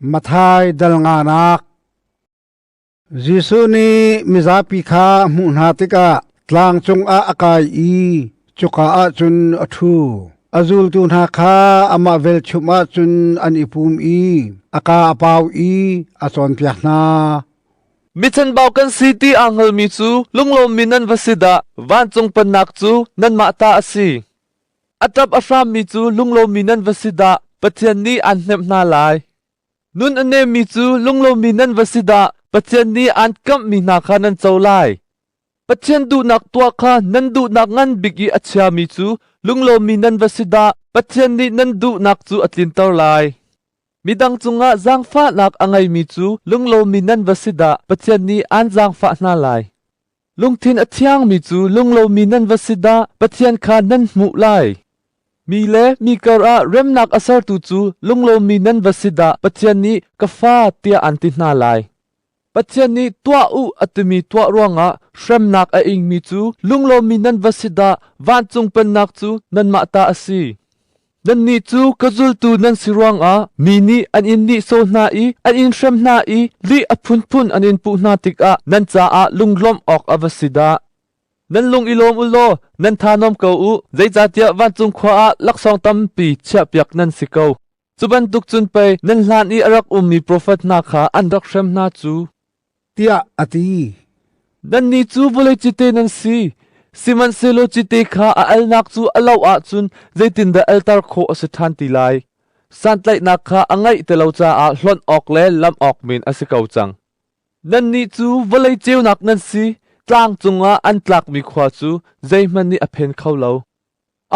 Mathai dal nganak Jesuh nih mizapi kha a hmuh hna tikah tlang cungah a kai i cuka ah cun a ṭhu. A zultu hna kha amah velchum ah cun an i pum i a ka a pau i a cawnpiak hna. Mi chanbau kan si ti aa hngalmi cu lunglawmmi nan va si dah! Vancung pannak cu nanmah ta a si. A ṭap a hrammi cu lunglomi nan va si dah, Pathian nih aan hnemh hna lai. Nun a nemmi cu lunglomi nan va si dah, Pathian nih aan kamhmi hna kha nan co lai. Pathian duhnak tuah kha nan duhnak ngan bik i a chiami cu lunglomi nan va si dah, Pathian nih nan duhnak cu a tlinter lai. Midang cungah zaangfahnak a ngeimi cu lunglomi nan va si dah, Pathian nih aan zaangfah hna lai. Lungthin a thiangmi cu lunglomi nan va si dah Pathian kha nan hmuh lai. Mi le mi karah remnak a sertu cu lunglomi nan va si dah Pathian nih ka Fa tiah an ti hna lai. Pathian nih tuah u a timi tuah ruangah hremnak a ingmi cu lunglomi nan va si dah vancung pennak cu nanmah ta a si. Nannih cu ka zultu nan si ruangah mi nih an in nihsawh hna i an in hrem hna i lih a phunphun an in puh hna tikah nan caah lunglawmh awk a va si dah! Nan lung i lawm u law nan thanuam ko u, zeicahtiah vancung khua ah laksawng tampi chiahpiak nan si ko. Cu bantuk cun pei nan hlan i a rak ummi profet hna kha an rak hrem hna cu. tiah a ti. Nannih cu vawlei cite nan si, sihmanhsehlaw cite kha a alnak cu a lo ahcun zeitindah alter khawh a si ṭhan ti lai? Santlaihnak kha a ngeih ti lo caah hlonh awk le lamh awk men a si ko cang. Nannih cu vawlei ceunak nan si, tlang cungah an tlakmi khua cu zeihmanh nih a phen kho lo.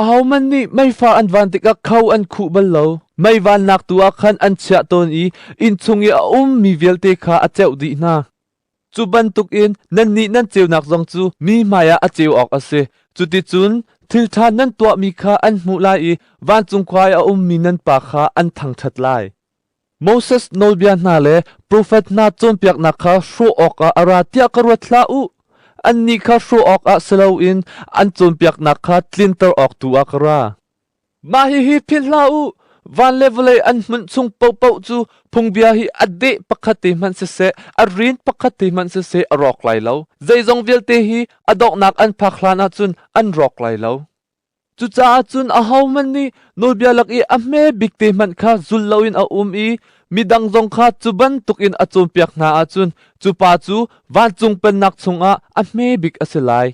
ahoman nih meifa an van tikah kho an khuh bal lo. Mei vannak tu ah khan an chiah tawn i inn chung i a um mi vialte kha a ceuh dih hna. Cu bantukin nannih nan ceunak zong cu mi hmaiah a ceu awk a si. Cuticun thilṭha nan tuahmi kha an hmuh lai i vancung khuai a ummi nan pa kha an thangṭhat lai. Moses nawlbia hna le profet hna cawnpiaknak kha hrawh awkah a ra tiah ka ruat hlah u. Annih kha hrawh awkah si loin an cawnpiaknak kha tlinter awk tu ah ka ra. Mah hihi philh hlah u, van le vawlei an hmunh chung paohpaoh cu phungbia hi a deh pakhat te hmanh siseh, a rin pakhat te hmanh siseh a rawk lai lo. Zeizong vialte hi a donghnak an phak hlan ah cun an rawk lai lo. Cucaah cun ahohmanh nih nawlbia lak i a hme bik te hmanh kha zul loin a um i midang zong kha cu bantukin a cawnpiak hna ahcun cu pa cu vancung pennak chungah a hme bik a si lai.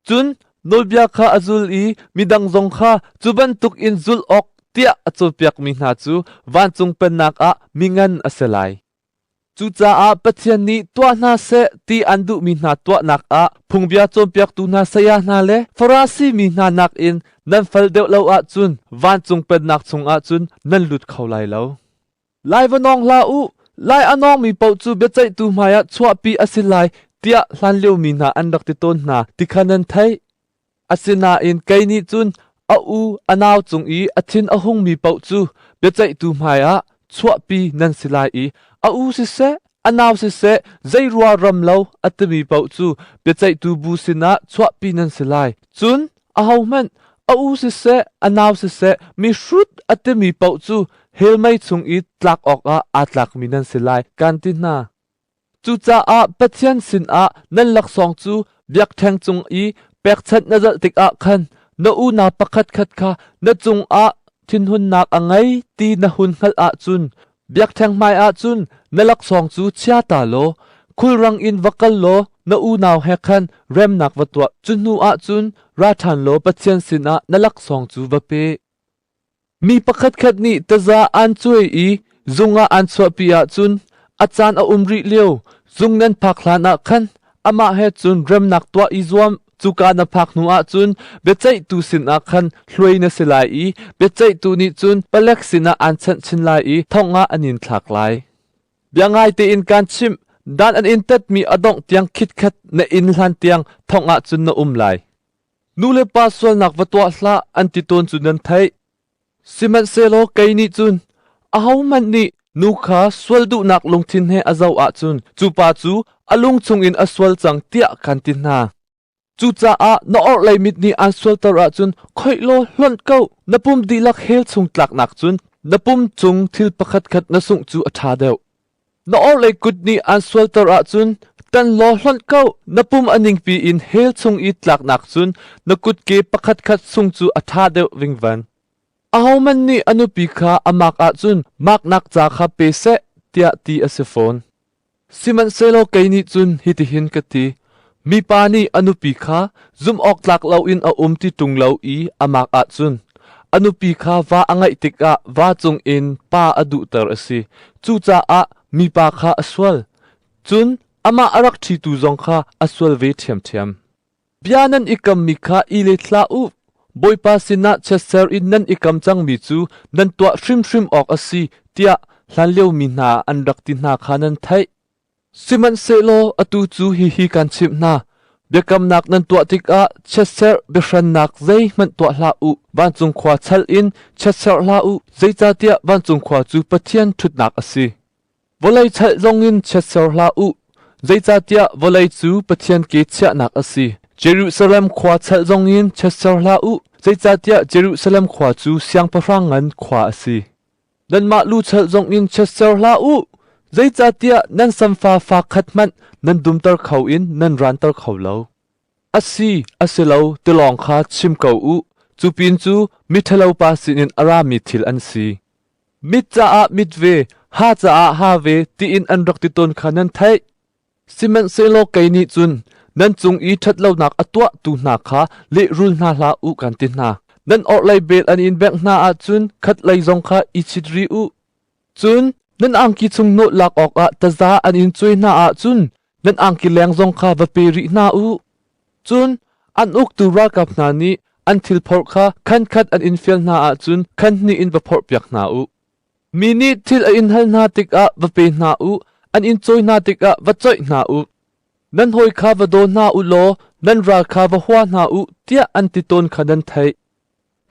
Cun nawlbia kha a zul i midang zong kha cu bantukin zul awk tiah a cawnpiakmi hna cu vancung pennak ah mi ngan a si lai. Cucaah Pathian nih tuah hna seh ti an duhmi hna tuahnak ah phungbia cawnpiaktu hna saya hna le Farasi mi hna nakin nan fal deuh lo ahcun vancung pennak chungah cun nan lut kho lai lo. Lai va nawng hlah u, lai a nawngmi paoh cu biaceihtu hmaiah chuahpi a si lai tiah hlanliomi hna an rak ti tawn hna ti kha nan theih. Asinain kei nih cun a u a nau cung i a thin a hungmi paoh cu biaceihtu hmaiah chuahpi nan si lai i a u siseh, a nau siseh zei rual ram lo a timi paoh cu biaceihtu bu sinah chuahpi nan si lai. Cun ahohmanh a u siseh a nau siseh mihrut a timi paoh cu helmei chung i tlak awkah aa tlakmi nan si lai, kaan ti hna. Cucaah Pathian sinah nan laksawng cu biakṭheng cung i pekchanh na zalh tikah khan na unau pakhatkhat kha na cungah thinhunnak a ngei ti na hun hngalh ahcun biakṭheng hmaiah cun na laksawng cu chia ta law khulrang in va kal law na unau he khan remnak va tuah. Cu hnuah cun ra ṭhan law Pathian sinah na laksawng cu va pe. Mi pakhatkhat nih taza aan cuai i zung ah aan chuahpi ahcun a caan a um rih lio zung nan phak hlanah khan amah he cun remnak tuah i zuam. Cuka na phak hnuah cun biaceihtu sinah khan hluai na si lai i biaceihtu nih cun palek sinah aan chanh chin lai i thong ah an in thlak lai. Biangai tein kaan chimh, dan an in tatmi a dongh tiang khitkhat na inn hlan tiang thongah cun na um lai. Nulepa sualnak va tuah hlah an ti tawn cu nan theih. Sihmanhsehlaw kei nih cun ahohmanh nih nu kha sual duhnak lungthin he a zoh ahcun cu pa cu a lung chungin a sual cang tiah kan ti hna. Cucaah na orhlei mit nih aan sualter ahcun khoih law hlonh ko, na pum dihlak hell chung tlaknak cun na pum cung thil pakhatkhat na sungh cu a ṭha deuh. Na orhlei kut nih aan sualter ahcun tan law hlonh ko. Na pum a ningpi in hell chung i tlaknak cun na kutke pakhatkhat sung cu a ṭha deuh vingvan. Ahohmanh nih a nupi kha a mak ahcun maknak ca kha pe seh, tiah ti a si fawn. Sihmanhsehlaw kei nih cun hitihin ka ti: Mipa nih a nupi kha zumhawktlak loin a um ti ṭung lo i a mak ahcun a nupi kha va a ngeih tikah va cungin pa a duhter a si. Cucaah mipa kha a sual, cun amah a rak ṭhitu zong kha a sual ve ṭhiamṭhiam. Bia nan i kammi kha i let hlah u. Bawipa sinah chiatser in nan i kam cangmi cu nan tuah hrimhrim awk a si, tiah hlanlio mi hna an rak ti hna kha nan theih. Sihmanhsehlaw atu cu hihi kan chimh hna: biakamnak nan tuah tikah chiatserh biahrannak zeihmanh tuah hlah u. Vancung khua chal in chiatserh hlah u, zeicahtiah vancung khua cu Pathian ṭhutnak a si. Vawlei chalh zongin chiatser hlah u, zeicahtiah vawlei cu Pathian ke chiahnak a si. Jerusalem khua chal zongin chiatser hlah u, zeicahtiah Jerusalem khua cu siangpahrang ngan khua a si. Nanmah luchalh zong in chiatser hlah u, zeicahtiah nan samfa fa khat hmanh nan dumter kho in nan ranter kho lo. A si, a si lo, tilawng kha chim ko u. Cu pin cu miṭhalopa sinin a rami thil an si. Mit caah mit ve, ha caah ha ve tiin an rak ti tawn kha nan theih. Sihmanhsehlaw kei nih cun nan cung i ṭhat lonak a tuahtu hna kha lehrul hna hlah u, kan ti hna. Nan orhlei vel an in bengh hna ahcun khatlei zong kha i chit rih u. Cun nan angki chung nawl lak awkah taza an in cuai hna ahcun nan angki leng zong kha va pe rih hna u. Cun an uktu ralkap hna nih an thil phorh kha khankhat an in fial hna ahcun khan hnih in va phorhpiak hna u. Mi nih thil a in hal hna tikah va pe hna u, an in cawi hna tikah va coih hna u. Nan hawi kha va daw hna u law nan ral kha va hua hna u, tiah an ti tawn kha nan theih.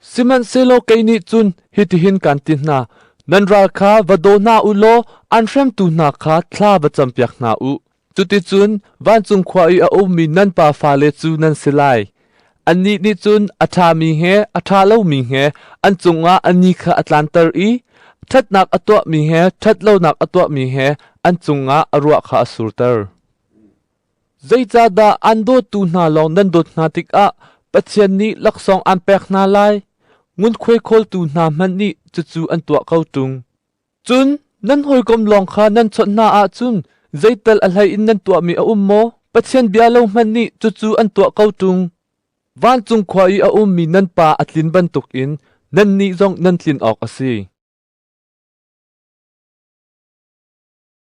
Sihmanhsehlaw kei nih cun hitihin kaan ti hna: nan ral kha va daw hna u law an hremtu hna kha thla va campiak hna u. Cuticun vancung khua i a ummi nan pa fale cu nan si lai. Annih nih cun a ṭhami he a ṭha lomi he an cungah a ni kha a tlanter i ṭhatnak a tuahmi he ṭhat lonak a tuahmi he an cungah a ruah kha a surter. Zeicahdah aan dawtu hna lawng nan dawt hna tikah Pathian nih laksawng aan pek hna lai? Ngunkhuai khawltu hna hmanh nih cucu an tuah ko ṭung. Cun nan hawikom lawng kha nan chawnh hna ahcun zeital a hlei in nan tuahmi a um maw? Pathian bia lo hmanh nih cucu an tuah ko ṭung. Vancung khua i a ummi nan Pa a tlin bantukin nannih zong nan tlin awk a si.